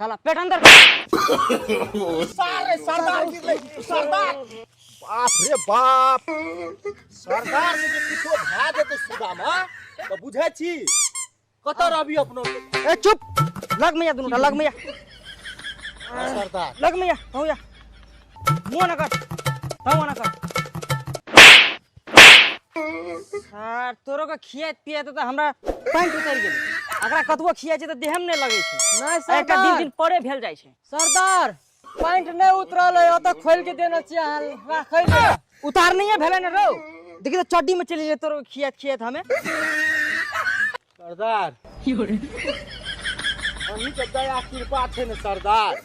साला पेट अंदर कर। सारे सरदार गिर ले सरदार बाप रे बाप सरदार जे किछो भए जेतै सुदामा तऽ बुझै छी कतऽ रहबी अपनो ए चुप लग में या दुनू लग में या सरदार लग में या हूँ या वो ना कर हाँ वो ना कर सर तोरो के खिया पिया तो हमरा पैंट उतर गेल अगर कतबो खिया छै त देहम नै लगै छै नहीं सर एकटा दिन दिन परे भेल जाइ छै सरदार पैंट नै उतरल है ओत खोल के देना छी अहाँ राखै ले उतार नहीं है भेलै न रौ देखि त चड्डी में चलि ले तोरो खिया खिया हमें सरदार हमही के दया कृपा छै ने सरदार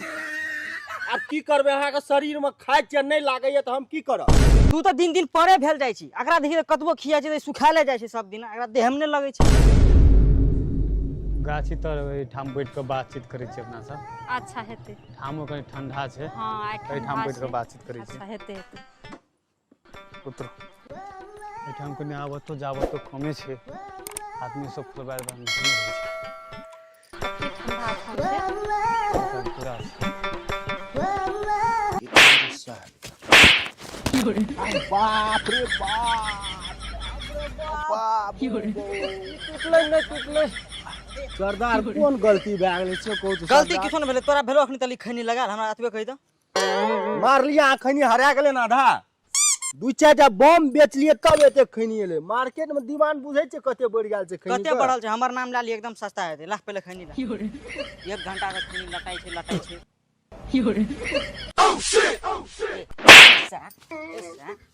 आब की करबै अहाँके शरीरमे खाइ छियै नहि लागैए तऽ हम की करब तू तऽ दिन दिन परे भेल जाइ छी एकरा देखी तऽ कतबो खिया छै तऽ सुखाले जाइ छै सब दिन एकरा देहमे नहि लगै छै गाछी तर एहिठाम बैठ कऽ बातचीत करै छी अपना सब अच्छा हेतै ठामो कनि ठंडा छै हँ आइ एहिठाम ठंडा बैठ छै। कऽ बातचीत करै छी अच्छा हेतै हेतै पुत्र एहिठाम कने आबतो जाबतो कमे छै आदमी सब परिवार बन पूरा बाप रे बाप टुटलै नहि टुटलै सरदार कोन गलती भए गेलै से कहू तऽ गलती सरदार। किछो नहि भेलै तोरा भेलो अखन तली खैनी लगा हमरा एतबे कहि दऽ मारलिय अखनि हरा गेलै ने आधा दू चारि टा बम बेचलियै तब एते खैनी एलै मार्केट मे डिमांड बुझै छै कते बढ़ि गेल छै खैनी कते बढ़ल छै हमर नाम लए लिय एकदम सस्ता हेतै लाख पहिले खैनी ला एक घंटा के खैनी लटाइ छै लटाइ छै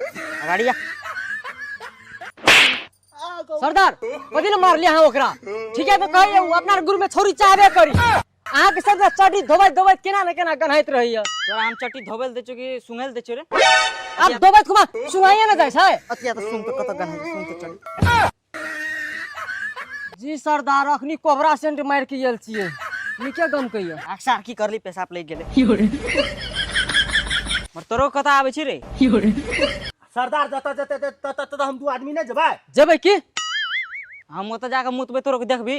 अगाड़ी जा सरदार बदी ने मार लिया हाँ ओकरा ठीक है तो कही है, वो अपना गुरु में छोरी चाहबे करी अहाँ के सरदार चटी धोबैत धोबैत केना ने केना गन्हाइत रही है तोरा हम चट्टी धोबल दे चुकी सुंगल दे चुरे अब धोबैत खुमा सुनाइए ना जाए छै अतिया तो सुन तो कत गन सुन तो चल जी सरदार अखनी कोबरा सेंट मार के आयल छियै नीके गम कहियो अक्सर की करली पेशाब लग गेले मर तोरो कथा आबै छी रे सरदार जतऽ जतऽ ततऽ ततऽ हम दू आदमी ने जेबै जेबै की हम ओतऽ जाके मुतबै तोरो के देखबी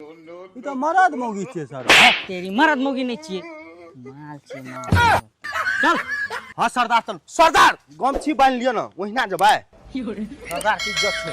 ई तऽ मरद मौगी छियै सर है, तेरी मरद मोगी नहीं चाहिए माल चाहिए माल चल हाँ सरदार चल सरदार गमछी बांध लियो ना ओहिना जबै सरदार की इज्जत छै